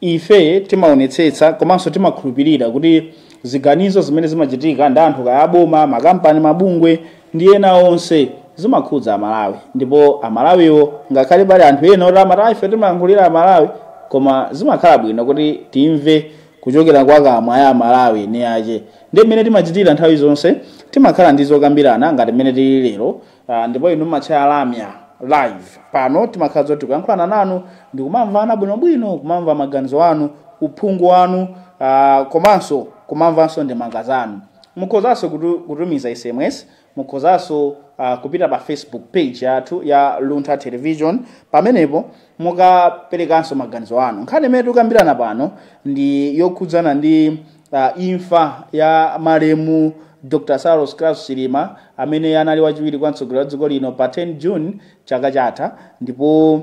Ife timaonetsetsa komanso timakhulupirira kuti ziganizo zimene zimachitika ndi anthu kaya aboma, makampani, mabungwe ndi ena onse zimakhudza Amalawi ndipo Amalawiwo ngakhale pali anthu ena oti amati ah, ife timayankhulira Amalawi koma zimakhala bwino kuti timve kuchokera kwa kamwa ya Amalawi eni ache. Ndiye mmene timachitira nthawi zonse timakhala ndi zokambirana ngati mmene tili lero Ah, ndipo inu mmatchaya lamya live pano timakhala zoti kuyankhulana nanu ndikumamvana bwinobwino kumamva maganizo anu uphungu wanu ah, komanso kumamvanso ndemanga zanu mukhozanso kutu- kutumiza sms mukhozanso ah, kupita pa facebook page yathu ya luntha television pamenepo mukaperekanso maganizo anu nkhani imene tikukambirana pano ndi yokhudzana ndi Imfa ya malemu Dr Saulos Klaus Chilima amene anali wachiwiri kwa mtsogoleri wa dziko lino pa 10 June chaka chatha ndipo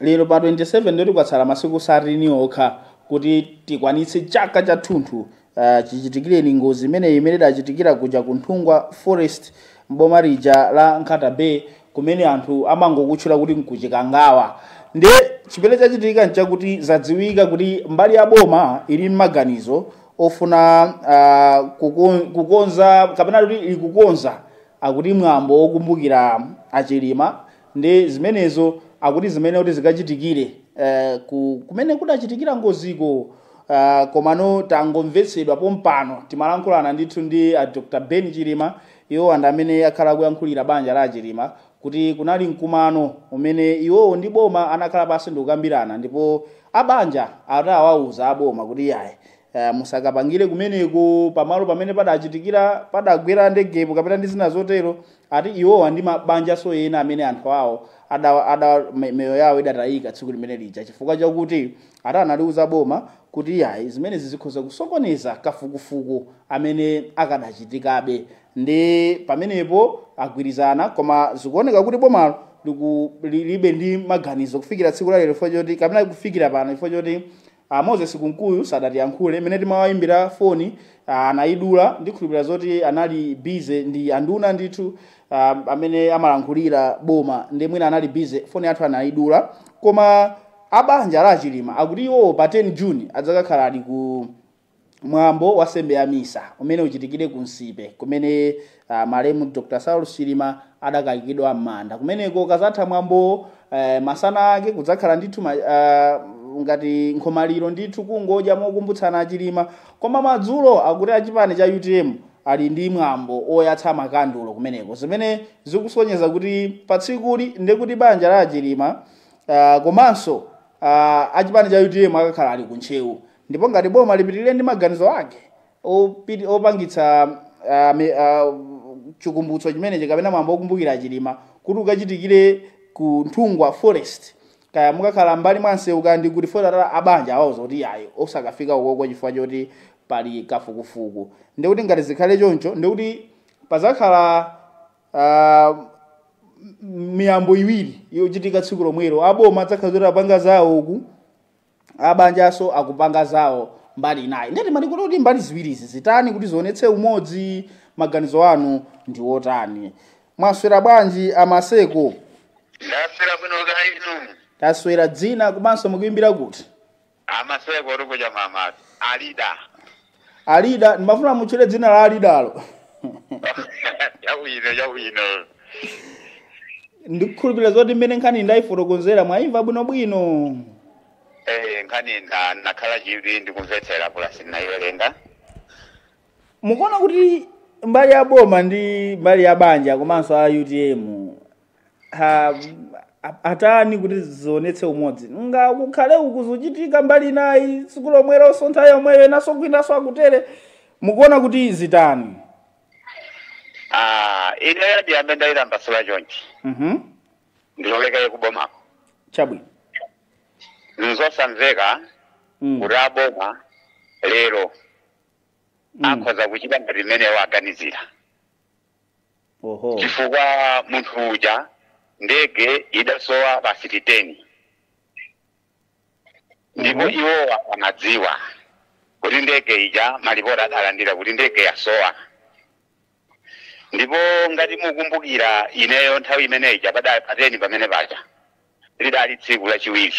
lero pa 27 ndoti kwatsala masiku satini okha kuti tikwanitse chaka chathunthu uh, chichitikireni ngozi imeneyi imene idachitikira kuja ku Nthungwa Forest mboma lija la Nkhata Bay kumene anthu amangokutchula kuti nku chikangawa nde chimene chachitika nchakuti zadziwika kuti mbali ya boma ili mmaganizo ofuna ah, kukon- kukonza kapena kuti ikukonza akuti mwambo wokumbukira achilima ndi zimenezo akuti zimenezo akuti zikachitikire eh, ku- kumene kudachitikira ngoziko Uh, komano tangomvetsedwa pompano timalankhulana ndithu ndi uh, dr ben chilima Iwowa ndi amene akhala akuyankhulira banja la a Chilima kuti kunali mkumano umene iwowo ndi boma anakhala pansi ndikukambirana ndipo a banja ati awauza a boma kuti iyayi eh, musakapangire kumeneko pamalo pamene padachitikira padagwera ndegepo kapena ndi zina zotero ati iwowa ndi mabanjanso ena amene anthu awo ada, ada me- miyoyo yawo idatayika tsiku limene lija chifukwa chakuti ati analiuza boma kuti iyayi zimenezi zikhoza kusokoneza kafukufuku amene akadachitikabe ndi pamenepo agwirizana koma zikuoneka kuti bomalo liku- lilibe ndi maganizo kufikira tsiku la lero chifukwa choti kapena kufikira pano chifukwa choti a moses kunkuyu sadatiyankhule mmene timawayimbira foni ah, anayidula ndikhulupirira zoti anali bize ndi anduna ndithu ah, amene amalankhulira boma nde mwina anali bize foni yathu anayidula koma A banja la a Chilima akuti iwowo pa 10 June adzakakhala ali ku mwambo wa sembe ya misa umene uchitikire ku Nsipe kumene ah, malemu Dr. Saulos Chilima adakayikidwa m'manda. Kumeneko ukazatha mwambowo eh, masana ake kudzakhala ndithu ma, ah, ngati nkhomaliro ndithu kungodya mokumbutsana a Chilima koma madzulo akuti achipani cha UTM ali ndi mwambo oyatsa makandulo kumeneko zimene zikusonyeza kuti patsikuli ndekuti banja la a Chilima uh, komanso uh, achipani cha utm akakhala ali kuntcheu ndipo ngati boma lipitirire ndi maganizo ake opiti- opangitsa uh, mi- uh, chikumbutso chimenechi kapena mwambo okumbukira chilima kuti ukachitikire ku nthungwa forest kaya mukakhala mbali mwa msewu kaya ndi kuti fo that abanja awauza kuti ayi osakafika ukoko chifukwa choti pali kafukufuku ndikuti ngati zikhale choncho ndikuti padzakhala ah, m- miyambo iwiri yochitika tsiku lomwelo aboma adzakhala kuti apanga zawo uku abanjanso akupanga zawo mbali inayi ndiyetu mwalikuti kuti mbali ziwirizi zitani kuti zionetse umodzi maganizo anu ndi otani mwaswera bwanji amaseko ndaswera bwino kaya inu taswera dzina komanso mukuimbira kuti Amaseko oti kuja mamatu. Alida. alida ndimafuna mutchule dzina la alidalo Yawino, yawino. ndikukhulupirira zoti mmene nkhani ndayifotokozera mwayimva bwinobwino Eh, nkhani nda nakhala chivi ndikumvetsera pulasi ndayiwerenga. mukuona kuti mbali ya boma ndi mbali ya banja komanso a utm ha, a- atani kuti zionetse umodzi ngakhale uku zuchitika mbali inayi tsiku lomweronso nthawi yomweyo enanso kwinanso akutere mukuona kuti zitani Ah, ineyo ndiyambe ndayimasula chonchi Mhm. ndilowekere kubomako chabwino nzosamveka Mm. kuti aboma lero Mm. akhoza kuchita ngati mmene waganizira oho chifukwa munthu uja ndege idasowa pasiti teni ndipo Mhm. iwowa amadziwa kuti ndege ija malipoti adalandira kuti ndege yasowa ndipo ngati mukumbukira ineyo nthawi imene ija pa pateni pamene paja lidali tsiku lachiwiri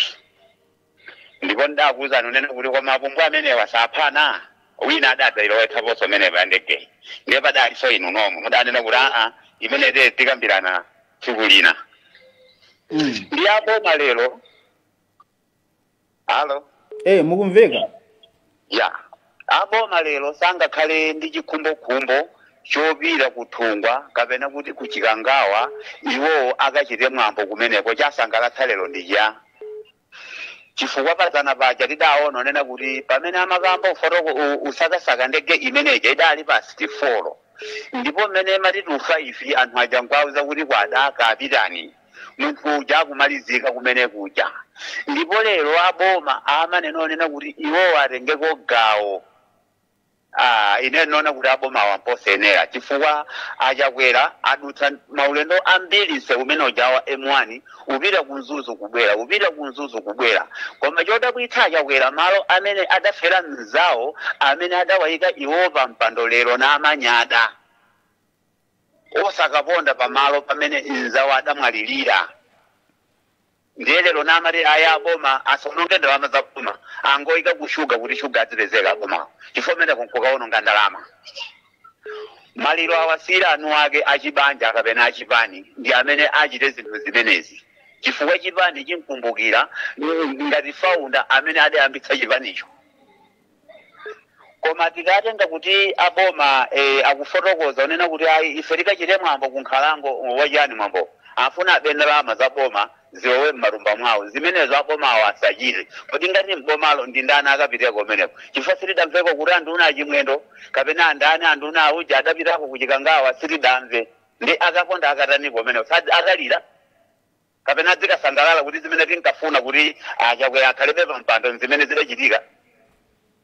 ndipo ndidakuuzani kunena kuti koma apumbwa amenewa saphana wina adadzailowetsaponso imeneyo ya ndegeyi ndiye padalinso inu nomwe mudanena kuti aa imene te tikambirana tsiku lina mm. ndiye aboma lero alo eh mukumveka Ya. A boma lero sangakhale ndi chikhumbokhumbo chopita ku Nthungwa kapena kuti ku Chikangawa iwowo akachite mwambo kumeneko. Chasangalatsa lero ndi chani? Chifukwa padzana paja tidaona kunena kuti pamene amakamba ufotoko zo- zosakasaka ndege imeneja idali pa pasiti folo ndipo mmene imati tu faifi anthu aja nkwauza kuti kwadaka apitani munthu uja akumalizika kumene kuja ndipo lero aboma amanena onena kuti iwowo atengeko gawo Ah, ine ndinaona kuti aboma wamposenera chifukwa achakwera adutsa maulendo ambiri nseu umene uja wa m1 upita ku mzuzu kubwera upita ku mzuzu kubwera koma chodabwitsa achakwera malo amene adafera mzawo amene adawaika iwo pa mpando lero namanyada osakaponda pamalo pamene mzawo adamwalirira ndiye lero namati aya aboma asaononge ndalama za boma angoyika ku shuga kuti shuga azipezeka aboma chifukwa kumeneko nkukaononga ndalama maliro awasiyire eni ake achibanja kapena achipani ndi amene achite zinthu zimenezi chifukwa chipani chimkumbukira mm, ngati faunda amene adayambitsa chipanicho koma tikatenga kuti aboma eh, akufotokoza kunena kuti ayi ife tikachite mwambo kunkhalango wachani mwambo afuna abe ndalama za boma zilowe m'matumba mwawo zimenezo abomawo asachite kodi ngati m'bomalo ndi ndani akapiteko kumeneko chifukwa sitidamveko kuti anduna achimwendo kapena andani anduna auja adapitako kuchikangawa sitidamve ndi akaponda akataniko kumeneko Sad- akalira kapena adzikasangalala kuti zimene tinkafuna kuti a Chakwera akhalebe pa mpando n'zimene zidachitika.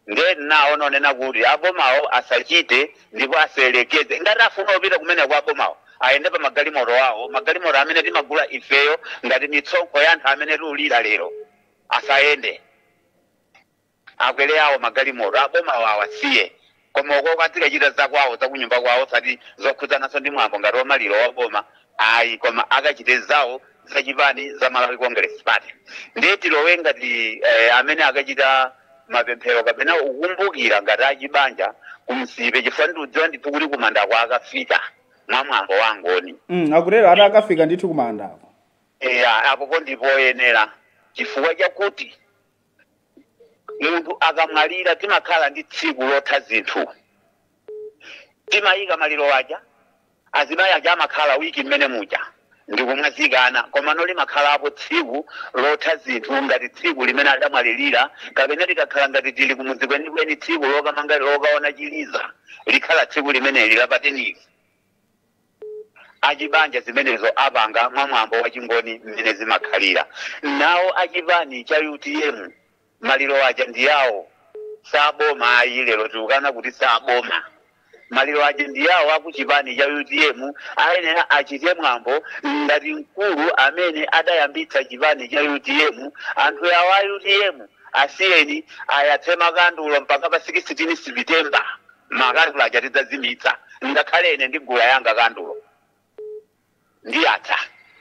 Ndiye naona onena kuti abomawo asachite ndipo asayerekeze. Ngati afuna kupita kumeneko abomawo ayende pa magalimoto awo, magalimoto amene timagula ifeyo ngati misonkho ya anthu amene tiulira lero, asayende. akwere awo magalimoto abomawo awasiye koma ukoko azikachita zakwawo zakunyumba kwawo osati zokhudzananso ndi mwambo ngati wamaliro waboma ayi koma akachite zawo zachipani za malawi congress party ndiye tilowe ngati eh, amene akachita mapemphero kapena kukumbukira ngati achibanja ku Nsipe chifukwa ndiudziwa ndithu kuti kumandako akafika mwa mwambo wangoni mm, akutero ati akafika ndithu kumandako eya apopo ndi poyenera chifukwa chakuti munthu akamwalira timakhala ndi tsiku lotha zinthu timayika maliro aja azimayi aja amakhala wiki mmene muja ndikumwazikana komano limakhalapo tsiku lotha zinthu ngati tsiku limene adamwalirira kapena tikakhala ngati tili kumudzi kwenikweni tsiku lokamanga lokaona chiliza likhala tsiku limeneli la pa 10 li achibanja zimenezo apanga mwa mwambo wa chingoni mmene zimakhalira nawo achipani cha utm maliro aja ndi yawo saboma ayi lero tikukana kuti saboma maliro aja ndi yawo akuchipani cha utm ayenera achite mwambo ngati mkulu amene adayambitsa chipani cha utm anthu yawo a utm asiyeni ayatse makandulo mpaka pa 16 september makandulo aja tidzazimitsa ngakhale ine ndigula yanga kandulo ndiyatsa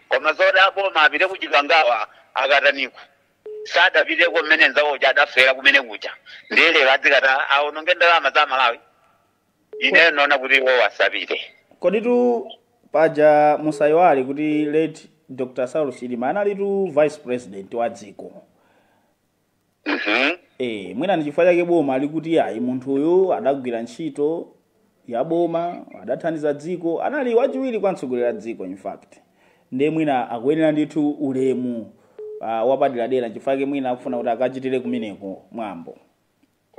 koma zoti a boma apite kuchikangawa akataniko sadapiteko mmene mnzawo uja adafera kumene kuja ndiye lero adzikatani aononge ndalama za malawi ine ndaona kuti iwo asapite koditu paja musayiwale kuti late dr saulos chilima analitu vice president wa dziko Mhm. Eh, mwina ndi chifukwa chake boma likuti ayi munthu uyu adagwira ntchito ya boma adathandiza dziko anali wachiwiri kwa mtsogoleri wa dziko in fact ndiye mwina akuyenera ndithu ulemu uh, wapaderadera chifukwa chake mwina akufuna kuti akachitire kumeneko mwambo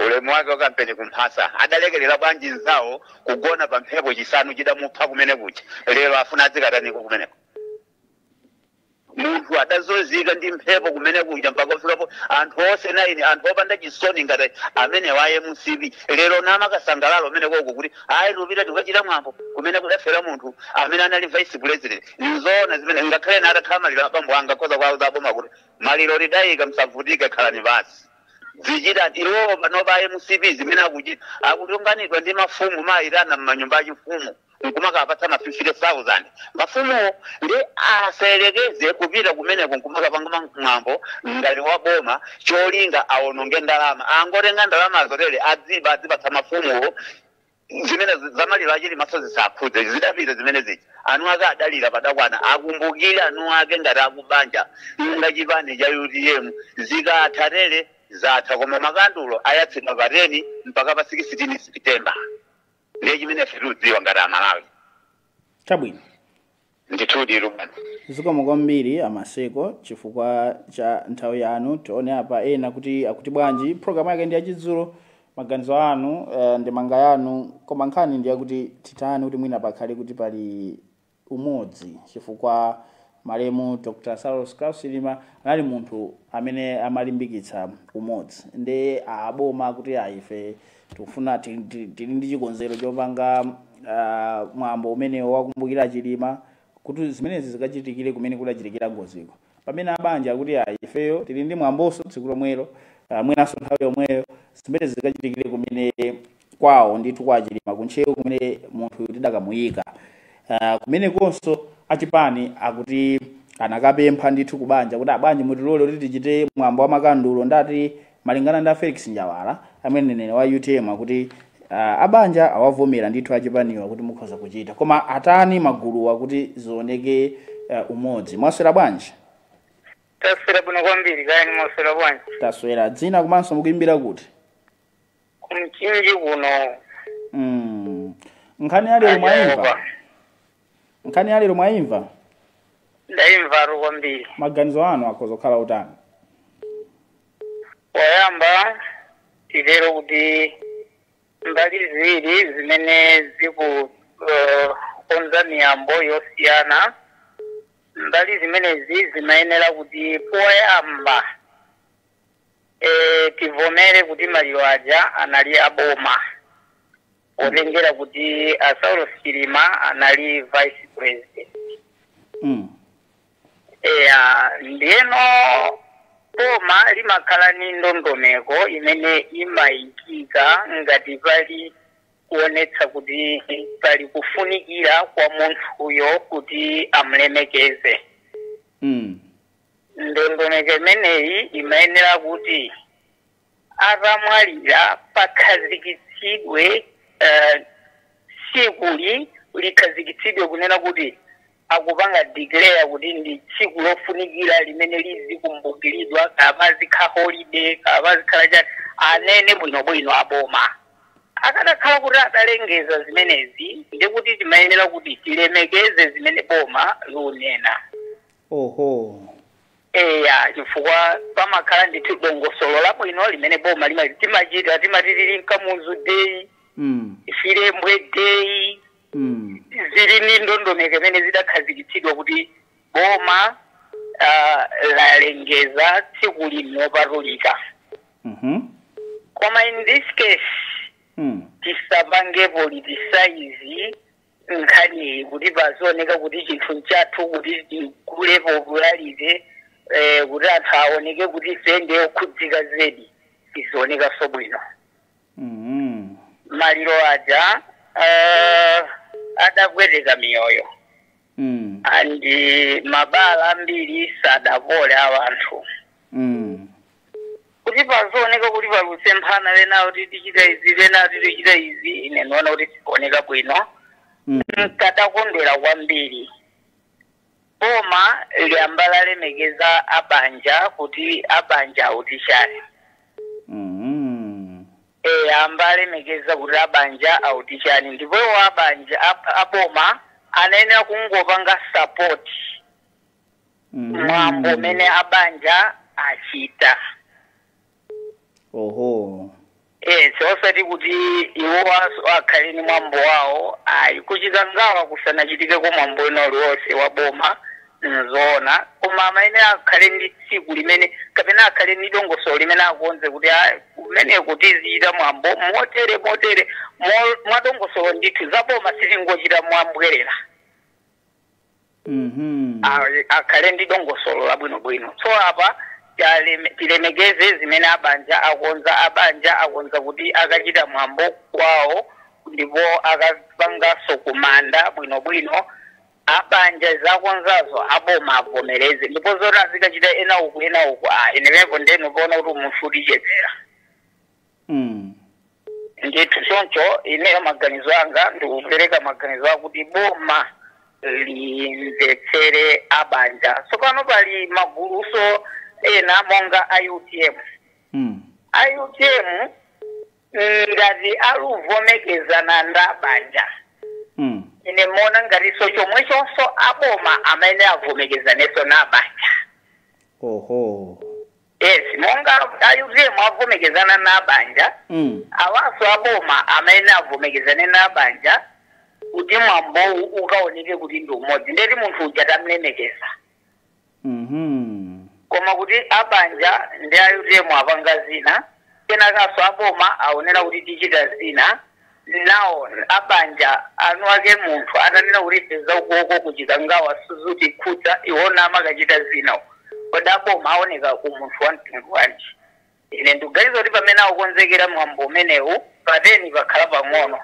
ulemu wake wakampeni kumphasa adalekerera bwanji nzawo kugona pa mphepo chisanu chidamupha kumene kuja lero afuna adzikataniko kumeneko munthu adazunzika ndi mphepo kumene kuja mpaka kuferapo anthu onse naini anthu opanda chisoni ngati amenewa a mcp lero nkumakasangalala kumeneko ko kuti ayi tipita tikachita mwambo kumene kudafera munthu amene anali vice president nzoona zimene ngakhale ine atakhala maliro a bambo anga ndikhoza kuwauza a boma kuti maliro tidayika musavutike khalani basi zichita iwowo panopa a mcp zimene akuchita akutunganidwa ndi mafumu kumawayitana m'manyumba achifumu nkumakapatsa ma 50000 mafumuwo ndi asayerekeze kupita kumeneko nkumakapanga ma- mwambo ngati wa boma cholinga awononge ndalama angotenga ndalama zotere adziba adzipatsa mafumuwo zimene zi- za maliro a chilima so zisakhudze zidapita zimene zija eniake adalira padakwana akumbukire eniake ngati akubanja nda chipani cha utm zikatha tere zatha koma makandulo ayatsidwa pa 10 mpaka pa 16 september ndiye chimene tikudziwa ngati amalawi chabwino ndithudi ruben zikomo kwambiri amaseko chifukwa cha nthawi yanu tione apa ena kuti akuti bwanji programu yake ndi yachidzulo maganizo anu uh, ndemanga yanu koma nkhani ndi yakuti titani kuti mwina pakhale kuti pali umodzi chifukwa malemu Dr Saulos Klaus Chilima anali munthu amene amalimbikitsa umodzi nde a boma akuti ayi ife tikufuna tili tili- tili ndi chikonzero chopanga ah, mwambo umenewo wokumbukira Chilima kuti zimenezi zikachitikire kumene kudachitikira ngoziko pamene a banja akuti ayi ifeyo tili ndi mwamboso tsiku lomwelo uh, mwinaso nthawi yomweyo zimene zikachitikire kumene kwawo ndithu kwa a chilima kuntcheu kumene munthu tidakamuyika uh, kumene konso achipani akuti anakapempha ndithu kubanja kuti a banja mutilole kuti tichite mwambo wa makandulo ndati Malingana ndi a Felix Njawala amene ndi mneneri wa utm akuti uh, abanja awavomera ndithu achipaniwa kuti mukhoza kuchita koma atani magulu akuti zioneke uh, umodzi mwaswera bwanji taswera bwino kwambiri kaya inu mwaswera bwanji taswera dzina komanso mukuimbira kuti kumchinji kuno mm. nkhani ya lero mwaimva nkhani ya lero mwayimva ndaimvatu kwambiri maganizo anu akhoza kukhala otani poyamba titero kuti mbali ziwiri zimene zikukonza miyambo yosiyana mbali zimenezi zimayenera kuti poyamba eh, tivomere kuti maliro aja anali aboma potengera kuti a saulos chilima anali vice president Mm. eya ndiyeno boma limakhala ni ndondomeko imene imayikika ngati pali kuonetsa kuti pali kufunikira kwa munthuyo kuti amulemekeze Mm. ndondomeko imeneyi imayenera kuti atamwalira pakhazikitsidwe eh, tsikuli likhazikitsidwe kunena kuti akupanga declare kuti ndi tsiku lofunikira limene lizikumbukiridwa kapena lizikhala holiday kapena lizikhala chani anene bwinobwino aboma akadakhala kuti adalengeza zimenezi ndi kuti timayenera kuti tilemekeze zimene boma lunena oho eya chifukwa pamakhala ndithu dongosolo labwino limene boma lima- timachita timati tili mkamuzu day Mm. chilembwe day Mm. zili ndi ndondomeko imene zidakhazikitsidwa kuti boma ah, lalengeza tsiku lino ndi lopatulika Mhm. koma in this case Mm. tisapange politicize nkhaniyi kuti pazioneka kuti chinthu nchathu kuti tikhale popularized eh, kuti anthu aoneke kuti ife ndi okhudzika zedi sizionekanso bwino Mhm. maliro aja eh, adapweteka miyoyo Mm. and mabala ambiri sadapole a wanthu Mm. kuti pazioneka kuti pali kusemphana enawo tichita izi enawo tichita izi ine ndiona kuti sizikuoneka bwino Mm. nkadakondwera kwambiri boma liyambe lalemekeza abanja kuti abanja akuti chani Mm. ayambe alemekeza kuti abanja akuti chani ndipo iwo abanja ab- aboma anayenera kungopanga sapoti mwambo umene abanja achita oho yes osati kuti iwo aso- akhale ni mwambo wawo ayi ku Chikangawa kusanachitikeko mwambo wina uliwonse wa boma nzoona koma amayenera akhale ndi tsiku limene kapena akhale ndi dongosolo limene akonze kuti "Ah, kumeneko tizichita mwambo motere motere mo- mwa dongosolo ndithu za boma sitingochita mwambwerera Mhm. a- akhale ndi dongosolo labwinobwino so apa taleme- tilemekeze zimene abanja akonza abanja akonza kuti akachita mwambo kwawo ndipo akapanganso kumanda bwinobwino abanja zakonzazo aboma avomereze ndipo zoti azikachita ena uku ena uku a inemepo nde ndupaona kuti umunthu ukuchepera Mm. ndithu choncho ineyo maganizo anga ndikupereka maganizo akuti boma limvetsere abanja tsopano pali maguluso ena monga a UTM Mm. a UTM ngati aluvomekezana ndi abanja Mm. ine ndimaona ngatiso chomwechonso aboma amayenera avomekezaneso na banja Oho. yes monga a utm avomekezana na banja mm. awanso aboma amayenera avomekezane na abanja kuti mwambowu ukaoneke kuti ndi umodzi ndeti munthu uja tamlemekeza mm-hmm. koma kuti abanja ndi a utm apanga zina Kenakanso a boma aonera kuti tichita zina. Nawo a banja enuake munthu atanena kuti ife za ukoko ku Chikangawa sizutikhudza, iwo namakachita zina uko. Kodi a boma aoneka umunthu wa mtundu wanji? Ine ndikuganiza kuti pamene akukonzekera mwambo umenewu, pa 10 pakhala pang'ono.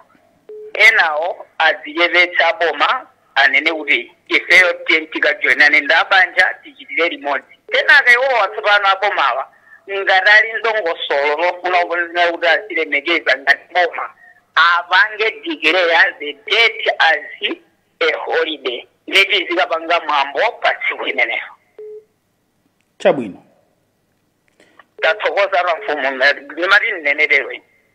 Enawo adzichepetse aboma anene kuti ifeyo tiye tikajoinane ndi abanja tichitire limodzi. Kenaka iwowa tsopano abomawa ngati ali ndongosolo lofuna kuonetsa kuti azilemekeza ngati boma apange declare the date as a holiday ndiye tizikapanga mwambo pa tsiku limenelo. chabwino tathokoza amfumu ndimati ndinenetero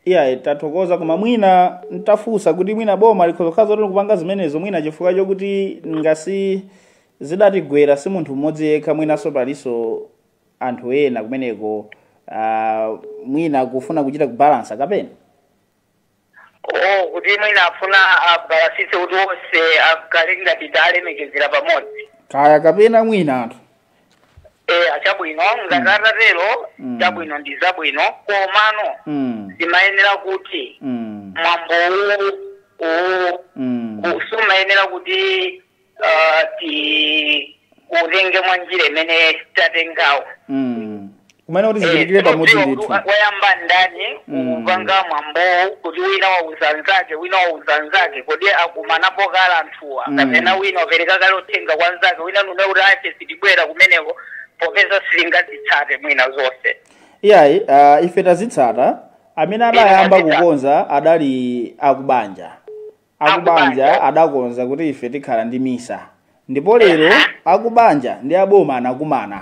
iyayi tathokoza koma mwina ntafunsa kuti mwina boma likhoza kukhala zoti likupanga zimenezo mwina chifukwa chokuti ngozi idatigwera si munthu mmodzi yekha mwinanso palinso anthu ena kumeneko ah, mwina kufuna kuchita kubalansa kapena O, kuti mwina afuna abalansitse kuti onse akhale ngati talemekezera pamodzi. kaya kapena mwina anthu Eh, a chabwino ngati atatero Mm. chabwino ndi zabwino komano mm, zimayenera kuti mm, mwambo uwu uwu mm. sumayenera kuti uh, tiutenge mwa njira imene tatengawo Mm. kumene kuti zichitikire pamodzi Tikudziwa ndithu kuti wayamba ndani Mm. kupanga mwambowu kuti wina wauza mnzake wina wauza mnzake kodi akumanapo kale anthuwa Mm. kapena wina wapereka kale uthenga kwa mnzake wina nume kuti ife sitibwera kumeneko popeza sitingazitsate mwina zonse iyayi uh, ife tazitsata amene adayamba Tazitsata. kukonza adali akubanja akubanja adakonza kuti ife tikhala ndi misa ndipo lero akubanja ndi aboma anakumana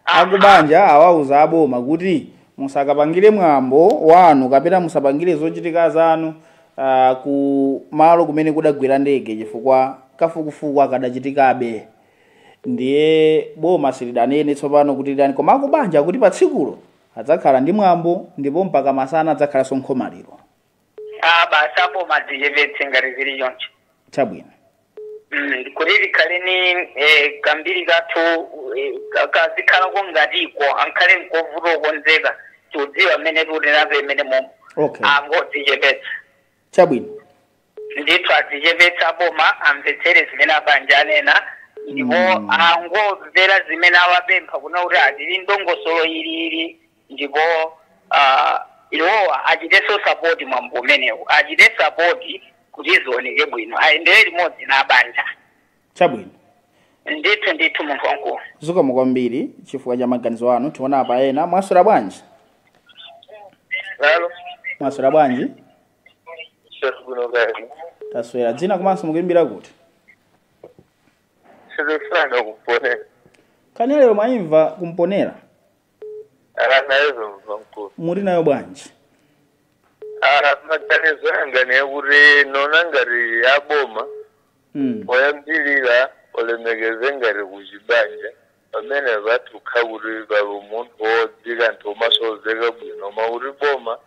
akubanja awauza aboma kuti musakapangire mwambo wanu kapena musapangire zochitika zanu uh, ku malo kumene kudagwera ndege chifukwa kafukufuku akadachitikabe ndiye boma silidanene tsopano kuti litani koma akubanja kuti pa tsikulo adzakhala ndi mwambo ndipo mpaka masana adzakhalanso nkhomaliro Ah, basi aboma adzichepetse ngati zili choncho chabwino Mm, kuti likhale ni eh, kambiri kathu eh, ka- kazikhalako ngatiko ankhale nkovuta okonzeka tikudziwa mmene tiutenapo imene momo okay angodzichepetsa chabwino ndithu adzichepetse aboma amvetsere zimene abanja anena ndipo Mm. angomvera zimene awapempha kunena kuti atili ndongosolo ili ili ndipo ah, iwowa achitenso sapoti mwambo umenewu achite sapoti kuti zioneke bwino ayendere limodzi na abanja chabwino ndithu ndithu munthu wamkulu zikomo kwambiri chifukwa cha maganizo anu tionepo ena mwaswera bwanji halo mwaswera bwanji sasikuno kati taswera dzina komanso mukuimbira kuti Sizosana ku Mponela kani lero mwayimva ku Mponela Nayenso mkulu. muli nayo bwanji Ah, maganizo anga ndi akuti ndikuona ngati aboma mm. poyambirira alemekeze ngati kuchibanja pamene vatukha kuti pali umunthu wodzika anthu omasozeka bwino koma kuti boma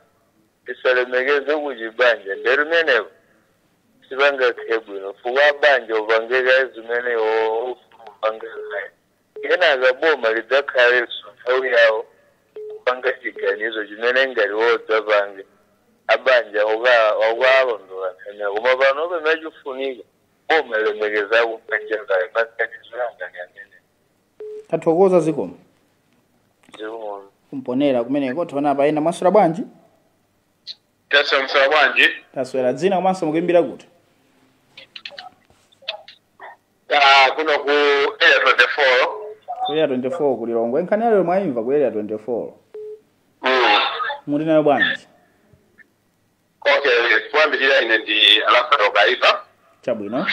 lisalemekeze kuchibanja ndiye pamenepo sipangakhale bwino chifukwa abanja apange kaye zimene akufuna kupanga Kenaka boma lidzakhalenso nthawi yawo kupanga chiganizo chimene ngati wodzapange abanja okawalondola nthaniwa koma pano pamene chufunika boma lilemekeze akubanja kaye maganizo anga ndi amenewo tathokoza zikomo zikomo ku Mponela kumeneko tionepo ena mwaswera bwanji taswera bwanji taswera dzina komanso mukuimbira kuti Ah, kuno ku area 24 ku area 24 ku lilongwe nkhani yalero mwayimva ku area 24 mm. muli nayo bwanji okay kuyambirira ine ndi Alfred kaipa chabwino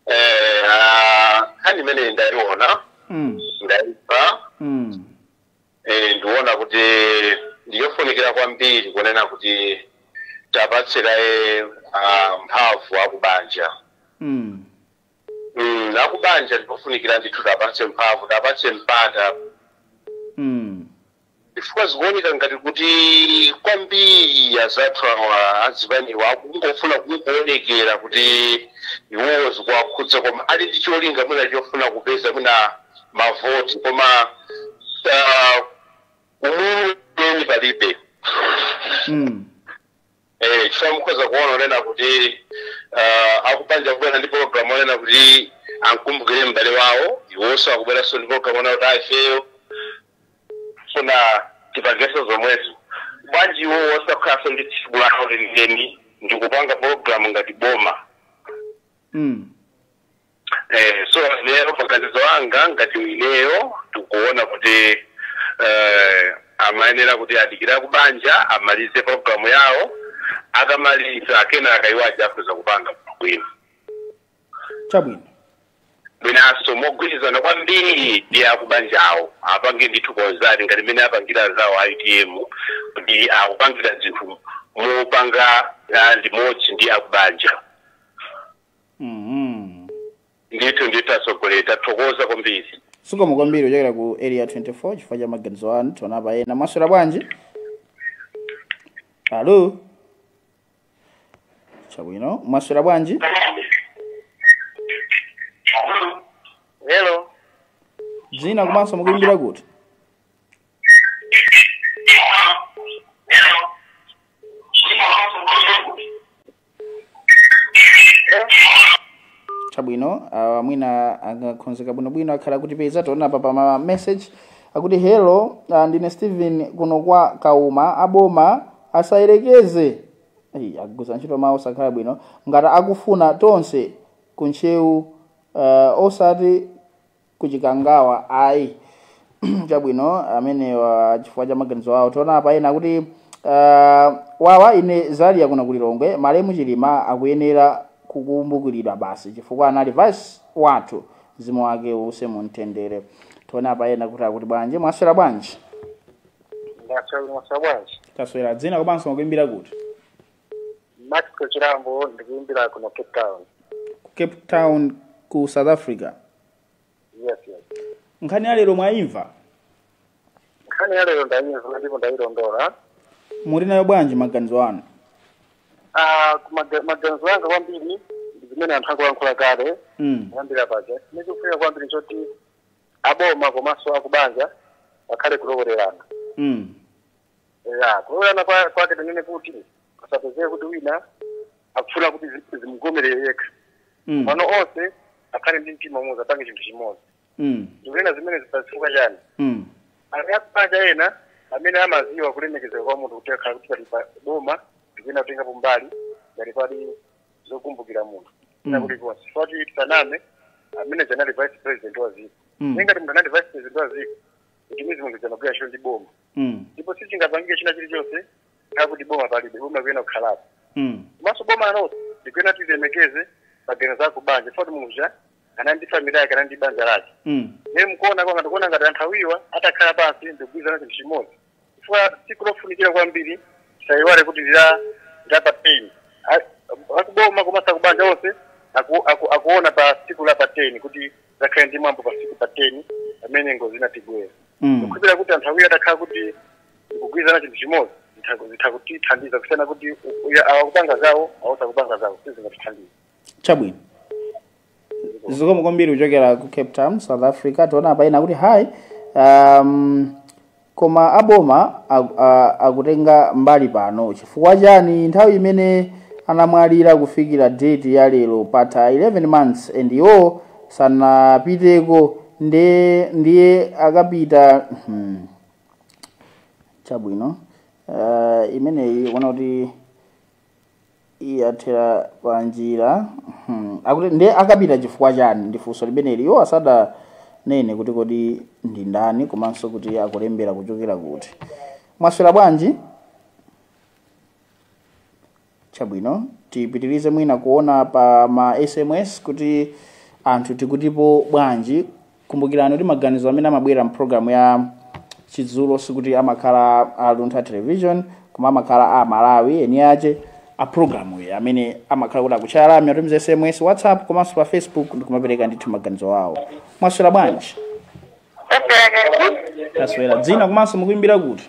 eh, ah, nkhani imene ndayiona mm. ndaimva mm. Eh, ndiona kuti ndiyofunikira kwambiri kunena kuti tapatse kaye ah, mphamvu akubanja Mm. mm, akubanja ndiofunikira ndithu tapatse mphamvu tapatse mpata Mm. chifukwa zikuoneka ngati kuti kwambiri azathu awa azipaniwa akungofuna kungoonekera kuti iwowo zikuwakhudza koma ali ndi cholinga mwina chofuna kupeza mwina mavoti koma ah, umunthu weni palibe Mm. Eh, chifukwa mukhoza kuona onena kuti ah, akubanja kubwera ndi pologalamu onena kuti ankumbukire m'bale wawo iwonso akubweranso ndi pologalamu onena kuti ifeyo tifuna tipangenso zomwezo bwanji iwo osakhalanso ndi tsiku lawo lenileni ndikupanga pologalamu ngati boma Mm. Eh, so lero maganizo anga ngati ineyo tikuona kuti eh, amayenera kuti adikire akubanja amalize programu yawo akamaliza kenaka iwo aja akhoza kupanga bwino chabwino mwinanso mogwirizana kwambiri ndi akubanja awo apange ndithu kukhala ngati mmene apangira anzawo a utm kuti akupangira zinthu mopanga ah, limodzi ndi akubanja Mhm. ndithu ndithu atsogoleri tathokoza kwambiri Zikomo kwambiri kuchokera ku area 24 chifukwa cha maganizo anu tione apa ena mwaswera bwanji? Alo. Chabwino, mwaswera bwanji? hello Dzina komanso mukuimbira kuti? chabwino uh, mwina angakhonzeka bwinobwino akhala akutipeza tione apa pa ma message akuti hello uh, ndine stephen kuno kwa kauma aboma asayerekeze Ei, agwiritsa ntchito mawu osakhala bwino ngati akufuna tonse kuntcheu uh, osati kuchikangawa ayi chabwino amenewa chifukwa cha maganizo awo tione apa ena kuti uh, wawa ine zalia kuno ku lilongwe malemu chilima akuyenera kukumbukiridwa basi chifukwa anali vice wathu mzimu wake uuse mu mtendere tione apa ena kuti akuti bwanji mwaswera bwanji Ndaswera bwanji. taswera dzina komanso mukuimbira kuti Matiko Chirambo ndikuimbira kuno Cape Town. ku cape town ku south africa Yes, yes. nkhani ya lero mwayimva Nkhani ya lero ndayimva ndipo ndayilondola. muli nayo bwanji maganizo anu Ah, ku maga- maganizo anga kwambiri ndi zimene anthu akulankhula kale mm. kuyambira paja. Chimene chikufunika kwambiri choti aboma komanso akubanja pakhale kulowererana. Mm. ya kulowererana kwa- kwake tinene kuti asapezeke kuti wina akufuna kuti zimugomere yekha Mm. pano onse akhale ndi mtima umodzi apange chinthu chimodzi Mm. ndikunena zimenezi chifukwa chani Mm. ali akubanja ena amene amaziwa kulemekezeka kwa munthu kuti akhala kuti pali aboma ndikuyena kutengapo mbali ngati pali zokumbukira munthu uja kuti konse foti tisaname amene uja anali vice president wa ziko Mm. ne ngati munthu anali vice president wa ziko ndimaziwa munthu uja ankagwira ntchito ndi boma mm, ndipo sichingapangike china chilichonse chakuti boma palibe boma kuyena kukhalapo mm, komanso boma nalonso ndikuyena lilemekeze maganizo a kubanja foti munthu uja anali ndi famili yake anali ndi banja lake mm, ne mkuona kwanga ndikuona ngati anthu awiriwa atakhala pansi ndikugwirizana chinthu chimodzi chifukwa tsiku lofunikira kwambiri tisayiwale kuti ndi la pa ten A- akuboma komanso akubanja onse aku- aku- akuona pa tsiku la pa ten kuti pazakhale ndi mwambo pa siku pa 10 pamene ngozi inatigwera Mm. ndikukhulupirira kuti anthu awiri atakhala kuti akugwirizana chinthu chimodzi zitha- zitha kutithandiza kusiyana kuti u- uya- awa akupanga zawo awanso akupanga zawo sizingatithandize chabwino zikomo kwambiri kuchokera ku cape town south africa tiona apa ina kuti hi um, Koma a boma aku- a- akutenga mbali pano chifukwa chani nthawi imene anamwalira kufikira date ya lero patha 11 months and iwo sanapiteko ndiye ndiye akapita hmm, chabwino uh, imeneyi ikuoneka kuti yathera panjira hmm. akuti nde akapita chifukwa chani ndifunso limeneli iwo asadanene kuti kodi ndi ndani komanso kuti akulembera kuchokera kuti mwaswera bwanji chabwino tipitirize mwina kuona pa ma sms kuti anthu tikutipo bwanji kumbukirani kuti maganizo amene amabwera mpulogalamu ya chidzulo sikuti amakhala a luntha television koma amakhala a malawi eni ache a pulogalamu iyi amene amakhala kuti akutchaya lamya kutumiza sms whatsapp komanso pa facebook ndikumapereka ndithu maganizo awo mwaswera bwanji taswera dzina komanso mukuimbira kuti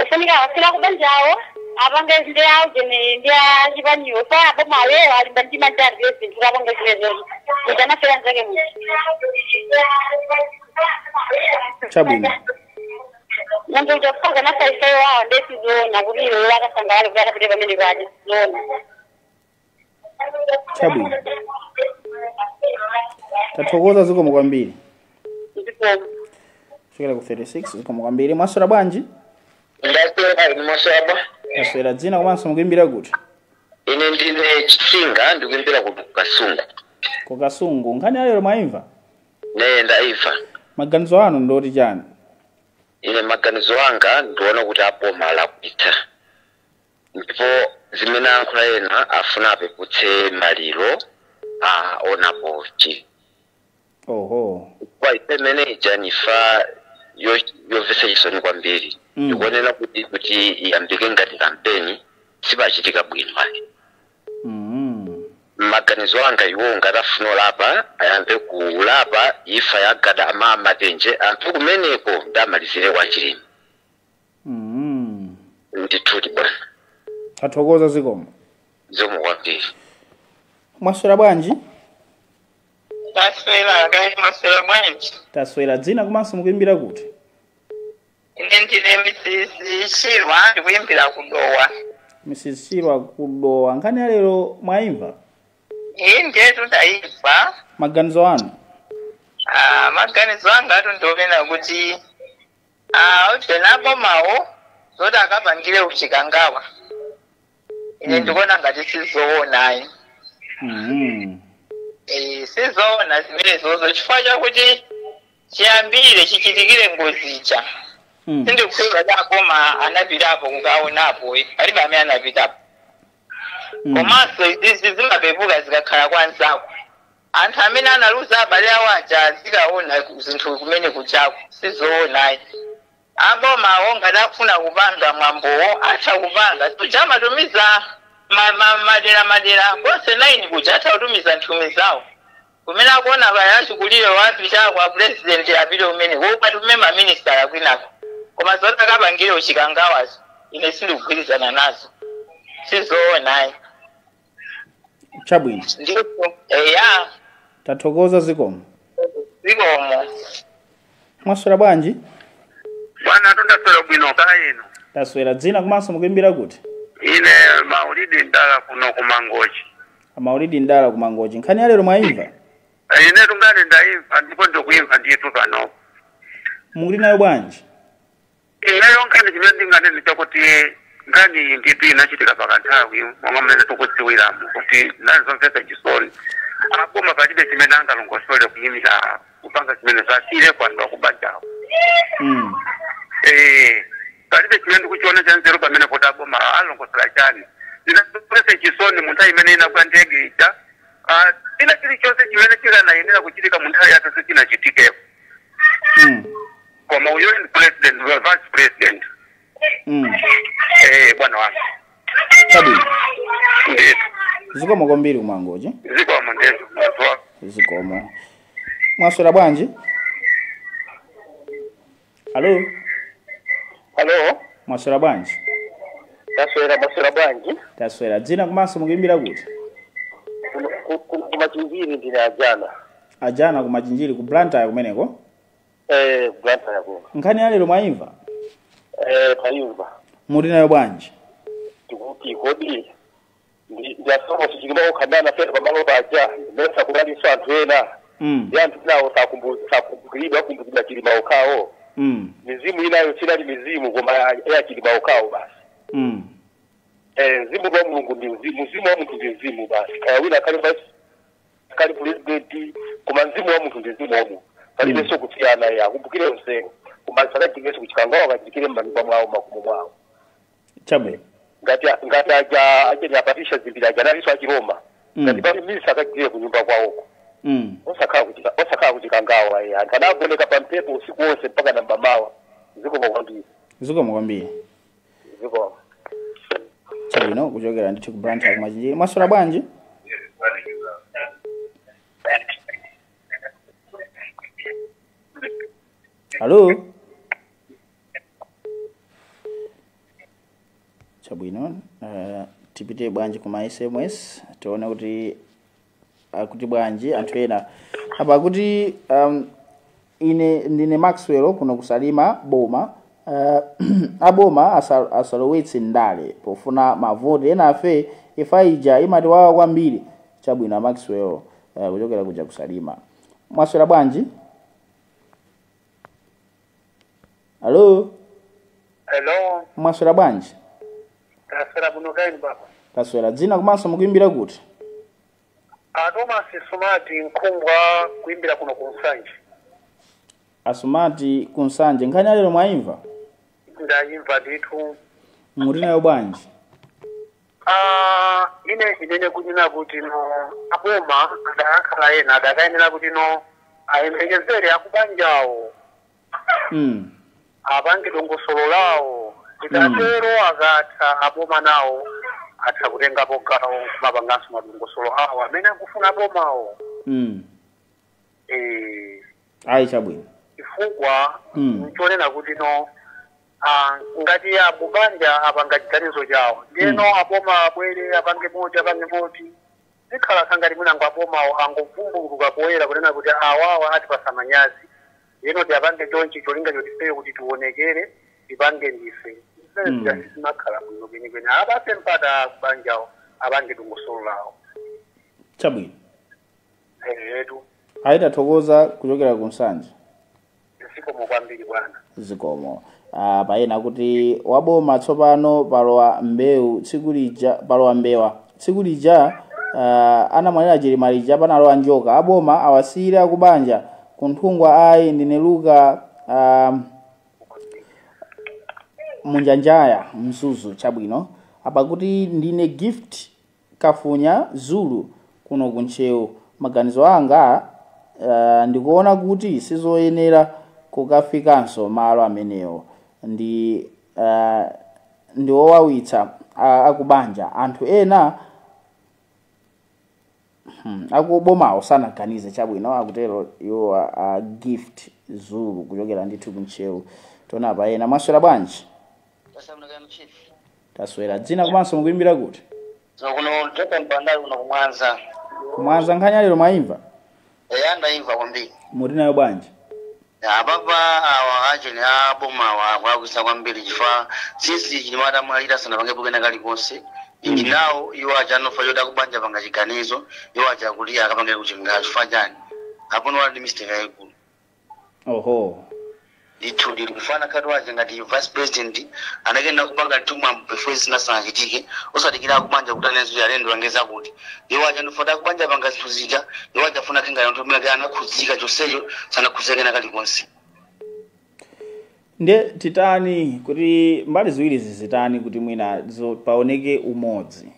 ofunika asiyire akubanjawo apange ndi aujene ndi achibalewo osati aboma awewo ali mbali yanji malinga ndi zinthu akapange zimezozo kuti anafera nzake muti Chabwino. munthu uja kufaza anafaisayo wawo nde sizoona kuti iwo akasangalale kuti akapite pamene paje sizoona chabwino tathokoza zikomo kwambiri ndipo chokera ku 36 zikomo kwambiri mwaswera bwanji ndaswera ine mwaswera taswera dzina komanso mukuimbira kuti ine ndine chitsinga ndikuimbira ku kasungu ku kasungu nkhani yalero mwaimva ee ndaimva maganizo anu ndi oti chani ine maganizo anga ndiona kuti aboma alakwitsa ndipo zimene ayankhula ena afuna apeputse maliro a a SKC oho imfa imene ija ndi imfa yo- yomvetsa chisoni kwambiri Mm. ndikuona kuti kuti iyambike ngati kampeni sizachitika bwino ayi mm. maganizo anga iwo ngati afuna kulapa ayambe kulapa imfa ya Gadama a Matenje anthu amenewo nde amalizire kwa chilima Mm. ndithudi bwana Tathokoza zikomo. zikomo kwambiri Mwaswera bwanji? taswera kaya mwaswera bwanji Taswera dzina komanso mukuimbira kuti? ine ndine Mrs. Chirwa ndikuimbira kudowa Mrs. Chirwa kudowa. Nkhani ya lero mwaimva? ii ndetu ndayimva Maganizo anu? Ah, maganizo angatu ndi onena kuti Ah, ujeni abomawo zoti akapangire ku Chikangawa ine Mm. ndikuona ngati sizoona ayi Mhm. Eh, sizoona zimenezozo chifukwa chakuti chiyambire chichitikire ngozi ija Mm. sindikukhulupirira kuti aboma anapitapo kukaonapo eh, palibe amene anapitapo Mm. komanso izizi zimapepuka zikakhala kwa nzako Anthu amene analuza abale awo aja azikawona zinthu kumene kujaku sizoona ayi. A bomawo ngati akufuna kupanga mwambowo atha kupanga. Sikuja amatumiza ma ma madera madera konse 9 kuja atha kutumiza nthumwi zawo. Kumene akuona kaya achikulirewo apitako a pulezidenti apite kumeneko akatume ma minisitala kwinako. Koma zoti akapangire ku Chikangawazo ine sindikugwirizana nazo. Sizoona ayi. chabwino ndipo eya tathokoza zikomo zikomo mwaswera bwanji bwana ndaswera bwino kaya inu taswera dzina komanso mukuimbira kuti ine maulidi ndala kuno kumangochi amaulidi ndala kumangochi nkhani ya lero mwaimva inetu nkhani ndaimva ndipo ndikuimva ndithu panopo muli nayo bwanji Ineyo chimene ndinganene ndi chakuti nkhani iyi nditi inachitika pakanthawi monga mmene tikudziwiramu kuti inali zomvetsa chisoni aboma palibe chimene angalongosole kuyimira kupanga chimene awasiyire kwa anthu akubanjawo Mm. Eh, palibe chimene ndikuchiona cha nzeru pamene kuti aboma alongosola chani zinamvetsa chisoni mu nthawi imene inagwa ndege ija Ah, china chilichonse chimene chikanayenera kuchitika mu nthawi yake sichinachitikepo Mm. koma uyo ndi president wa vice president mm. eh bwana wangu chabwino ndithu zikomo kwambiri ku Mangochi zikomo ndithu munthu wako zikomo mwaswera bwanji alo halo mwaswera bwanji taswera mwaswera bwanji taswera dzina komanso mukuimbira kuti kumachinjiri ndine ajana ajana kumachinjiri ku blantyre kumeneko Eh, Blantyre yakeyo. nkhani ya lero mwayimva Eh, tayimva. muli nayo bwanji Tikuti kodi ndi a Saulos Chilima okha amene anafera pamalo paja mesa kunalinso anthu ena. mm. Ndi anthu enawo sakumbu- sakumbukiridwa akukumbukira chilima okhawo. Mm. Mizimu inayo sinali mizimu koma ya- ya chilima okhawo basi. Mm. Eh, mzimu wa Mulungu ndi mzimu, mzimu wa munthu ndi mzimu basi. Kaya wina akhale wa kali pulezidenti koma mzimu wa munthu ndi mzimu wa munthu palibenso kusiyana ya akumbukire onsewo koma asakachitenso kuchikangawa akachitire m'manyumba mwawo makomo mwawo chabwino ngati ngati aja a Shanil a Patricia Dzimbiri aja analinso achiroma Mm. ngati pali misa akachitire kunyumba kwawoko mm. osakhala kuchika osakhala kuchikangawa ya anthu anagoneka pa mpepo usiku wonse mpaka na mamawa zikomo kwambiri zikomo kwambiri zikomo chabwino kuchokera ndithu ku Blantyre kumachinjiri mwaswera bwanji alo chabwino uh, tipite bwanji kuma sms tione kuti akuti bwanji anthu ena apa akuti um, ine ndine maxwell kuno kusalima boma uh, aboma asa- asalowetse ndale pofuna mavoti enafe imfa ija imatiwawa kwambiri chabwino maxwell uh, kuchokera kuja kusalima mwaswera bwanji alo Hello, mwaswera bwanji taswera bwino kaya inu baba. taswera dzina komanso mukuimbira kuti A Thomas Sumati ndikuimbira kuno ku Nsanje. asumati kunsanje nkhani yalero mwaimva Ndayimva ndithu. muti nayo bwanji Ah, ine ndinene kunena kuti no aboma adakakhala ena adakayenera kuti no ayembekezere akubanjawo Mm. apange dongosolo lawo ikatero akatha aboma nawo atha kutengapo gawo kumapanganso madongosolo awo amene akufuna abomawo Mm. eh, ayi chabwino chifukwa Mm. nchonena kuti no ah, ngati akubanja apanga chiganizo chawo ndiyeno Mm. aboma abwere apange moti apange moti zikhala za ngati mwinango abomawo angovumbuluka poyera kunena kuti awawa atipasa manyazi ndiyeno tipange chonchi cholinga choti ifeyo kuti tionekere tipange ndife zimene Mm. zija sizimakhala bwino kwenikweni apase mpata akubanjawo apange dongosolo lawo chabwino ehetu ayi tathokoza kuchokera ku nsanje zikomo kwambiri bwana zikomo ah, pa ena kuti waboma tsopano palowa mbewu tsiku lija palowa mbewa tsiku lija ah, anamwalira chilima ija panalowa njoka aboma awasiyire akubanja kunthungwa ayi ndine luka ah, munjanjaya mzuzu chabwino apa kuti ndine gift Kafunya Zulu kuno ku Ntcheu. Maganizo anga aah ndikuona kuti sizoyenera kukafikanso malo amenewo ndi aah ndiowawitsa akubanja anthu ena hmm akubomawo sanaganize chabwino akutero iwowa a Gift Zulu kuchokera ndithu ku Ntcheu tione apa ena. Mwaswera bwanji? taswera kaya chief taswera dzina komanso mukuimbira kuti so kuno toka mpandali kuno kumwanza kumwanza nkhani lero mwaimva eya ndaimva kwambiri mukuti nayo bwanji apapa awa ajeni abomawa akulakwitsa kwambiri chifukwa since chilima atamwalira sanapangepo kena kalikonse ndi nawo iwo aja anva zoti akubanja apanga chiganizo iwo aja kuti akapangire kuchikangawa chifukwa chani apo ndiye wali ndi mistake yayikulu Oho. ndithudi mfana khati wache ngati vice president anayenera kupanga mwambo before zina sanachitike osadikira akubanja kuti anenezo ayende alengeza kuti iwo aja amva zoti akubanja apanga zinthu zija iwo aja afuna kukhala ngati aoneke anakhudzika chonsecho sanakhudzike kena kalikonse nde titani kuti mbali ziwiri zizitani kuti mwina zo- paoneke umodzi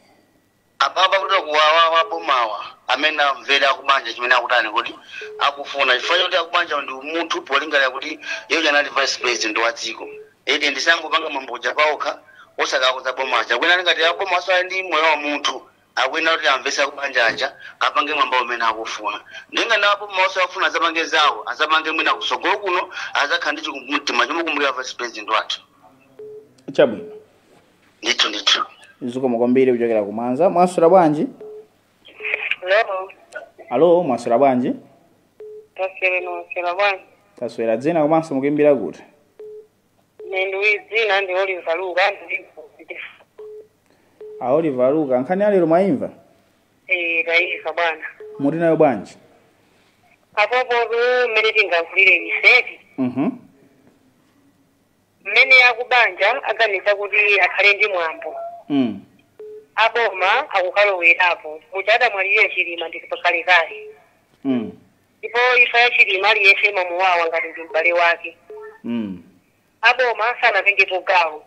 apa pakuti awawa abomawa amene amvere akubanja chimene akutani kuti akufuna chifukwa choti akubanja ndi umunthu polingalira kuti iye anali vice president wa dziko ede ndiye angopanga mwambo uja paokha osawakhudza aboma aja akuona ali ngati aboma sasamala ndi moyo wa munthu akuyenera kuti amvese akubanja aja apange mwambo umene akufuna ndiye ngati aboma nawonso akufuna azapange zawo azapange mwina kusogolo kuno azakhala ndi chikumbumtima chomukumbukira vice president wathu chabwino ndithu ndithu zikomo kwambiri kuchokera ku mwanza mwaswera bwanji Hello. alo mwaswera bwanji Taswera mwaswera bwanji. taswera dzina komanso mukuimbira kuti Ineyo dzina ndi Oliver Luka ndi a oliver luka nkhani ya lero mwaimva eh taimva bwana. muti nayo bwanji Apo po mmene tingavulire miseti. mhm mmene akubanja aganiza kuti akhale ndi mwambo mm. aboma akukalowerapo muja adamwalirira chilima ndi pakalekale mm. ndipo ifa ya chilima aliyense imamuwawa ngati ndi m'bale wake mm. aboma sanatengepo gawo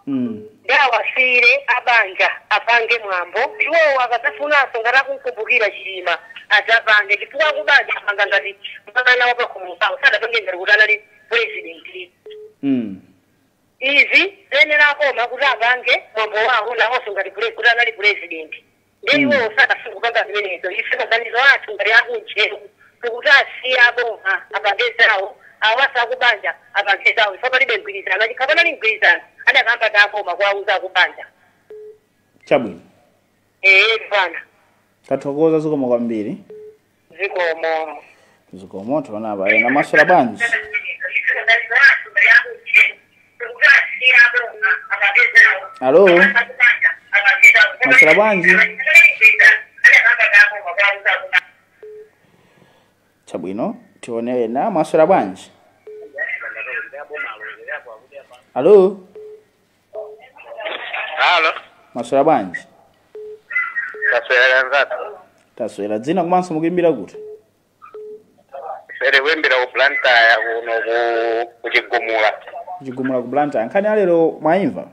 mm. ndi awasiyire abanja apange mwambo iwowo akadzafunanso ngati akumukumbukira chilima adzapange chifukwa akubanja apanga ngati mwana wapakhomo pawo sadapange ngati kuti anali president mm. izi zayenera aboma kuti apange mwambo wawo nawonso ngati pre- kuti anali president nde Mm. iwowo sanafune kupanga zimenezo ife maganizo athu ngati akunja tikuti asiye aboma apange zawo awasiye akubanja apange zawo ife palibe mgwirizano chikhala panali mgwirizano adakayamba aboma kuwauza akubanja chabwino ee bwana tathokoza zikomo kwambiri zikomo zikomo tione apa ena mwaswera bwanji alo mwaswera bwanji chabwino tione ena mwaswera bwanji alo Halo, mwaswera bwanji taswera nzatu. taswera dzina komanso mukuimbira kuti Sere ndikuimbira ku Blantyre kuno kuchigumula. kuchigumula ku blantyre nkhani ya lero mwaimva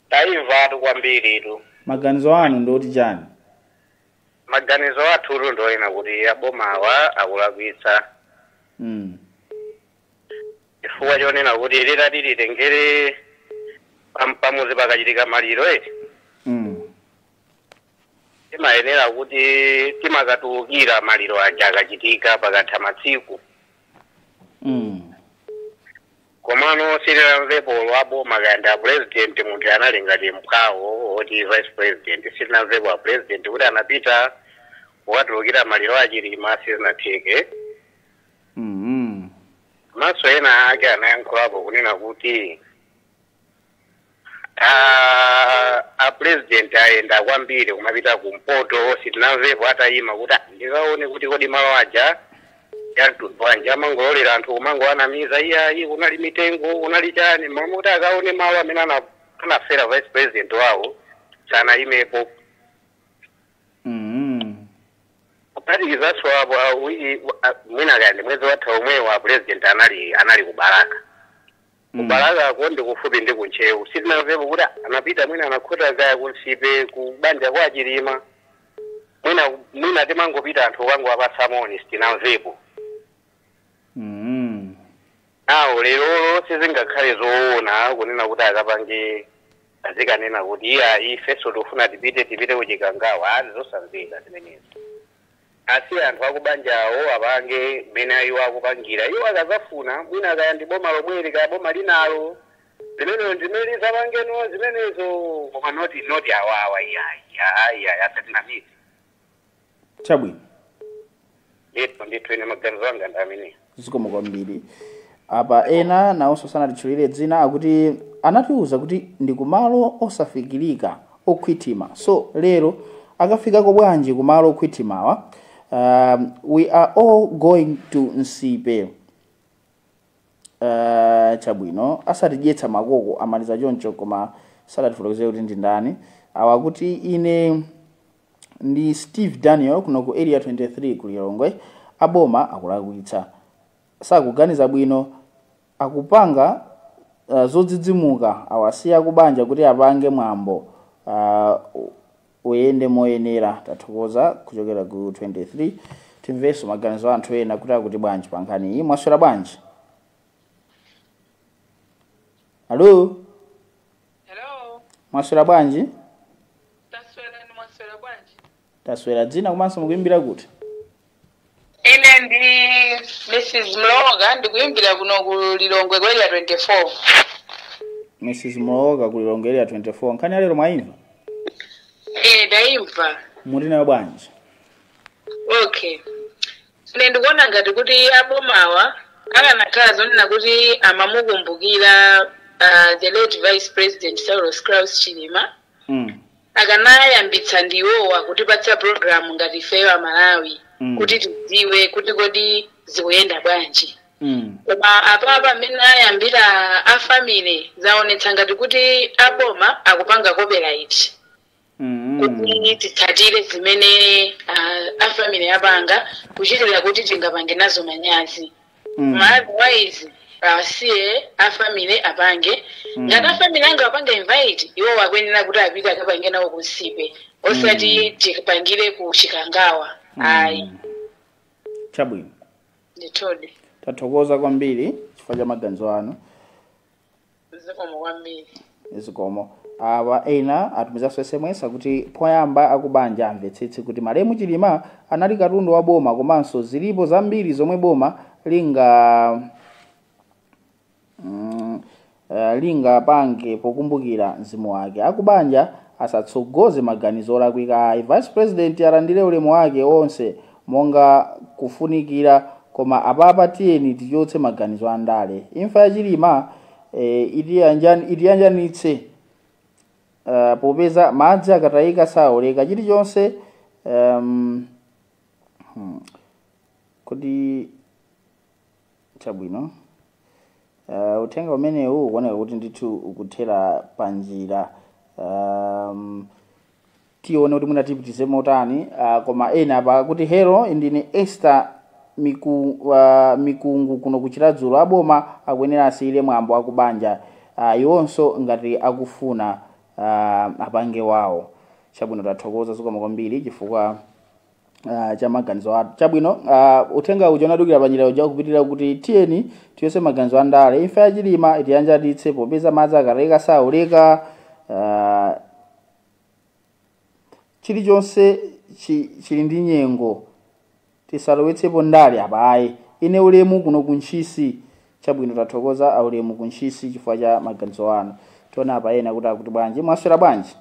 Taimvatu kwambiritu. maganizo anu ndi oti chani maganizo athutu ndi onena kuti aboma awa akulakwitsa mm. chifukwa chonena kuti titati titengere pam- pamuzi pakachitika maliro eti Mm. timayenera kuti timakatulukira maliro aja akachitika pakatha masiku Mm. Komano sitinamvepo olo a boma kaya ndi a president munthu anali ngati mphwawo oti vice president sitinamvepo a president kuti anapita kukatulukira maliro a Chilima sizinatheke. Komanso ena ake anayankhulapo kunena kuti Ah, a president ayenda kwambiri kumapita kumpoto sitinamvepo atayima kuti "Ah, ndikaone kuti kodi malo aja yamtundu wanji amangolola anthu kumangowanamiza iyayi kunali mitengo kunali chani mwina kuti akaone malo amene ana- anafera vice president wawo sanayimepo Mm. kuphatikizaso apo ah, uyi- ah, mwina kaya ndi mwezi watha omwewo a president anali anali ku Balaka Ku Balakako ndi kufupi ndi ku Ntcheu. Sitinamvepo kuti anapita mwina anakhota kaya ku Nsipe ku banja kwa a Chilima. Mwina mwina timangopita anthu kukangowapatsa moni sitinamvepo. Mm. Awo lerolo sizingakhale zoona kunena kuti akapange azikanena kuti iya ifeso tikufuna tipite tipite ku Chikangawa ndi zosamveka zimenezi. Asiye anthu akubanjawo apange mmene iwo akupangira. Iwo akazafuna, mwina kaya ndi boma lomweli kaya boma linalo, limenelo ndi limene lizapangeno zimenezo koma not not awawa iyayi aa iyayi asatinamize. Chabwino. Ndithu ndithu ine maganizo anga ndi amenewo. zikomo kwambiri apa ena nawonso sanatitchulire dzina akuti anatiwuza kuti ndi kumalo osafikirika okhwithima so lero akafikako bwanji kumalo okhwithimawa um, we are all going to nsipe uh, chabwino asatidyetsa makoko amaliza choncho koma sadatifotokozere kuti ndi ndani awa akuti ine ndi steve daniel kuno ku area 23 ku lilongwe aboma akulakwitsa sakuganiza bwino akupanga uh, zodzidzimuka awasiye akubanja kuti apange mwambo uh, uyende moyenera tathokoza kuchokera ku 23 timvenso maganizo a anthu ena kuti akuti bwanji pa nkhani iyi mwaswera bwanji hello Hello, Mwaswera bwanji? taswera inu mwaswera bwanji? Taswera dzina komanso mukuimbira kuti? Ine ndi Mrs. Mlowoka ndikuimbira kuno ku Lilongwe ku area 24. Mrs. Mlowoka ku Lilongwe area 24. Nkhani ya lero mwaimva? Eh, ndaimva. Muli nayo bwanji? Okay. Ine ndikuona ngati kuti a bomawa akanakhala zonena kuti amamukumbukira uh, the late vice president Saulos Klaus Chilima Mm. akanayambitsa ndi iwowa kutipatsa program ngati ifeyo aMalawi Mm. kuti tidziwe kuti kodi zikuyenda bwanji Mm. koma apapa amene ayambira a family zaonetsa ngati kuti aboma akupanga copyright Mm. kuti titsatire zimene ah, a family apanga kuchitira kuti tingapange nazo manyazi Mm. otherwise asiye a family apange Mm. ngati a family anga apange invite iwo akuyenera kuti apite akapange nawo kunsipe osati tipangire ku chikangawa ayi Mm. chabwino ndithudi tathokoza kwambiri chifukwa cha maganizo anu zikomo kwambiri zikomo awa ena atumizanso sms akuti poyamba akubanja amvetsetse kuti malemu chilima anali katundu wa boma komanso zilipo zambiri zomwe boma linga mm, eh, lingapange pokumbukira mzimu wake akubanja asatsogoze maganizo olakwika ayi vice president alandire ulemu wake onse monga kufunikira koma apapa tiyeni tichotse maganizo a ndale imfa ya chilima eh, itiyanjan- itiyanjanitse eh, popeza madzi akatayika saoleka chilichonse um, hmm, kuti Chabwino. Uh, uthenga umenewu ukuoneka kuti ndithu ukuthera pa njira um, tione kuti mwina tipitize motani uh, koma ena apa akuti hello ndine Esther miku, uh, mikungu kuno kuchiradzulu aboma akuyenera asiyire mwambo akubanja uh, iwonso ngati akufuna uh, apange wawo chabwino tathokoza zikomo kwambiri chifukwa Ah, cha maganizo anu chabwino ah, uthenga uja unadukira panjira uja ukupitirira kuti tiyeni tichotse maganizo a ndale imfa ya chilima itiyanjanitse popeza madzi akatayika saoleka ah, chilichonse chi- chili ndi nyengo tisalowetsepo ndale apa ayi ine ulemu kuno kuntchisi chabwino tathokoza aulemu kuntchisi chifukwa cha maganizo anu tiona apa ena akuti akuti bwanji mwaswera bwanji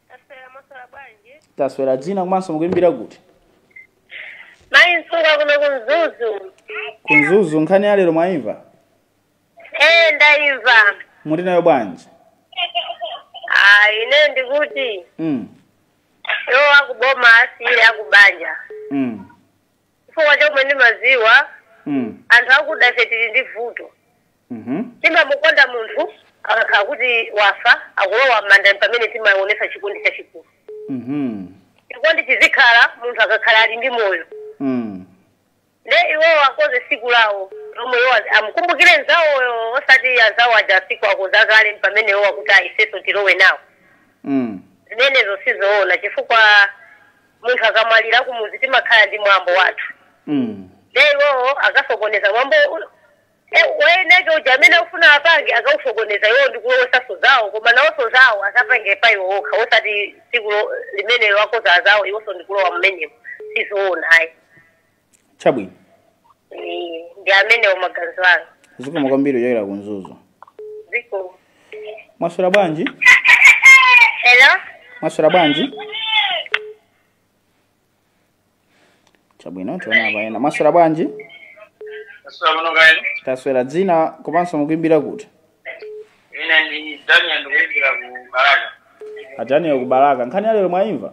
Taswera mwaswera bwanji. taswera dzina komanso mukuimbira kuti Mai nsunga kuno kumzuzu. kumzuzu nkhani ya lero mwaimva Eh ndaimva. muti nayo bwanji Ah ine ndikuti mm. iwo akuboma asiyire akubanja. Mm. chifukwa chomwe ndimaziwa mm. anthu akuda ife tili ndi vuto mhm. timamukonda munthu akakhala kuti wafa akulowa m'manda pamene timaonesa chikondi chachikulu mhm. chikondi chizikhala munthu akakhala ali ndi moyo mm. nde iwo akoze siku lawo lomwe iwo az- amukumbukire nzawoyo osati azawo aja siku akoza kale pamene iwo akuti aifeso tilowe nawo mm. zimenezo sizoona chifukwa munthu akamwalira kumudzi timakhala ndi mwambo wathu mm. nde iwowo akasokoneza mwambo e, woyeneka uja amene akufuna apange akausokoneza iwowo ndikulowesanso zawo koma nawonso zawo azapange pa iwo okha osati tsiku lo- limenelo akoza azawo iwonso ndikulowa mmenemo sizoona ayi chabwino Eh, ndi amenewo maganizo anu zikomo kwambiri kuchokera ku mzuzu ziko mwaswera bwanji hello mwaswera bwanji chabwino tiona apa ena mwaswera bwanji Ndaswera bwino kaya inu taswera dzina komanso mukuimbira kuti ine ndi daniel ndikuimbira ku balaka adaniel kubalaka nkhani yalero mwaimva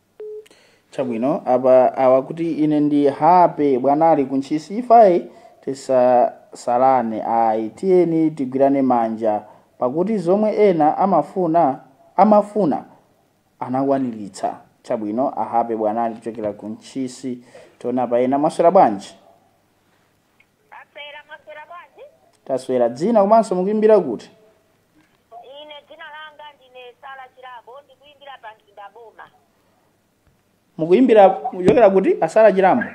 chabwino apa awa akuti ine ndi hape bwanali kuntchisi ife ayi tisasalane ayi tiyeni tigwirane manja pakuti zomwe ena amafuna amafuna anakwaniritsa chabwino ahape bwanali kuchokera kuntchisi tiona apa ena mwaswera bwanji Taswera, mwaswera bwanji? Taswera. Dzina komanso mukuimbira kuti? Ine dzina langa ndine Sara Chilambo, ndikuimbira pa Mzimba Boma. Mukuimbira kuchokera kuti? A Sara Chilambo.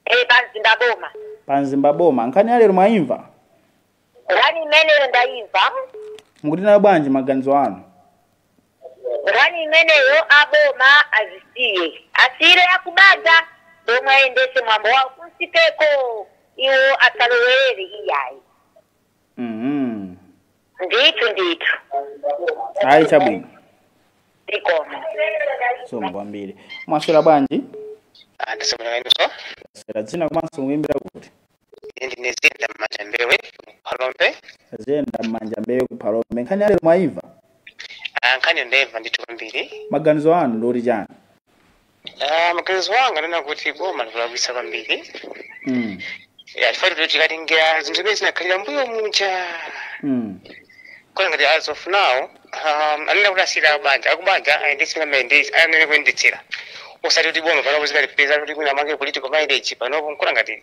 Eh, pa Mzimba Boma. Pa Mzimba Boma. Nkhani ya lero mwaimva? nkhani imeneyo ndayimva mukuti nayo bwanji maganizo anu nkhani imeneyo aboma azisiye asiyire akubanja omwe ayendese mwambo wawo kunsikeko iwo asalowerere iyayi Mhm. ndithu ndithu ayi chabwino zikomo zikomo kwambiri mwaswera bwanji ndaswera kaya inu taswera dzina komanso mukuimbira kuti Ine ndine ziyenda m'manja mbewe kuphalombe ziyenda m'manja mbewe kuphalombe nkhani yalero mwayimva Ah, nkhani yo ndayimva ndithu kwambiri maganizo anu ndi oti chiyani Ah, maganizo anga ndi onena kuti boma likulakwitsa kwambiri mm. chifukwa choti tikatengera zinthu zimene zinakhalira mbuyo muja mm. nkuona ngati as of now um, anena kuti asiyira a banja akubanja ayendetse m'mene akuyenera kuyendetsera osati kuti boma panopo likapezeke kuti likufuna limange political mileage panopo nkuona ngati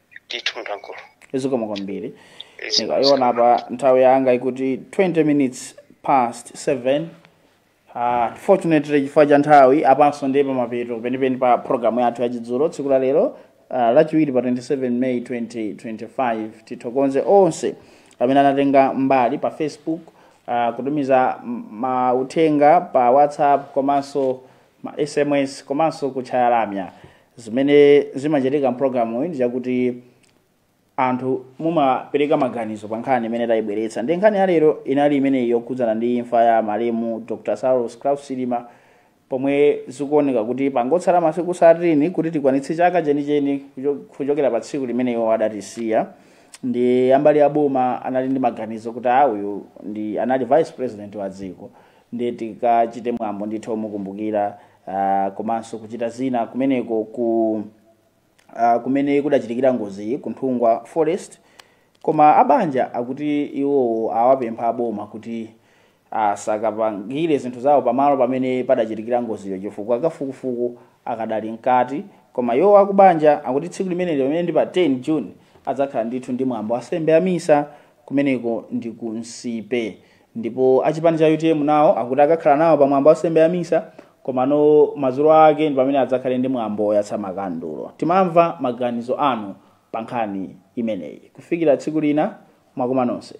ndithu munthu wankulu zikomo kwambiri ndikaona apa nthawi yanga ikuti 20 minutes past 7 Uh, unfortunately chifukwa cha nthawi apanso ndi pamapeto penipeni pa programu yathu yachidzulo tsiku la lero uh, lachiwiri pa 27 may 2025 tithokoze onse amene anatenga mbali pa facebook uh, kutumiza m- mauthenga pa whatsapp komanso ma sms komanso kutchaya lamya zimene zimachitika mpulogalamuyi ndichakuti anthu mumapereka maganizo pa nkhani imene tayibweretsa ndi nkhani ya lero inali imeneyi yokhudzana ndi imfa ya malemu dr saulos klaus chilima pomwe zikuoneka kuti pangotsala masiku 13 kuti tikwanitse chaka chenicheni kucho- kuchokera pa tsiku limene iwo adatisiya ndiye a mbali ya boma anali ndi maganizo kuti a uyu ndiye anali vice president wa dziko ndiye tikachite mwambo ndithu omukumbukira ah, komanso kuchita zina kumeneko ku ah, kumene kudachitikira ngoziyi ku nthungwa forest koma abanja akuti iwowo awapempha aboma kuti asakapangire zinthu zawo pamalo pamene padachitikira ngoziyo chifukwa kafukufuku akadali mkati koma iwo akubanja akuti tsiku limeneli limene ndi pa 10 june adzakhala ndithu ndi mwambo wa nsembe ya misa kumeneko ndi ku nsipe Ndipo achipani cha utm nawo akuti akakhala nawo pa mwambo wa nsembe ya misa komano madzulo ake ndi pamene adzakhale ndi mwambo oyatsa makandulo. Timamva maganizo anu pa nkhani imeneyi. Kufikira tsiku lina mwakoma nonse.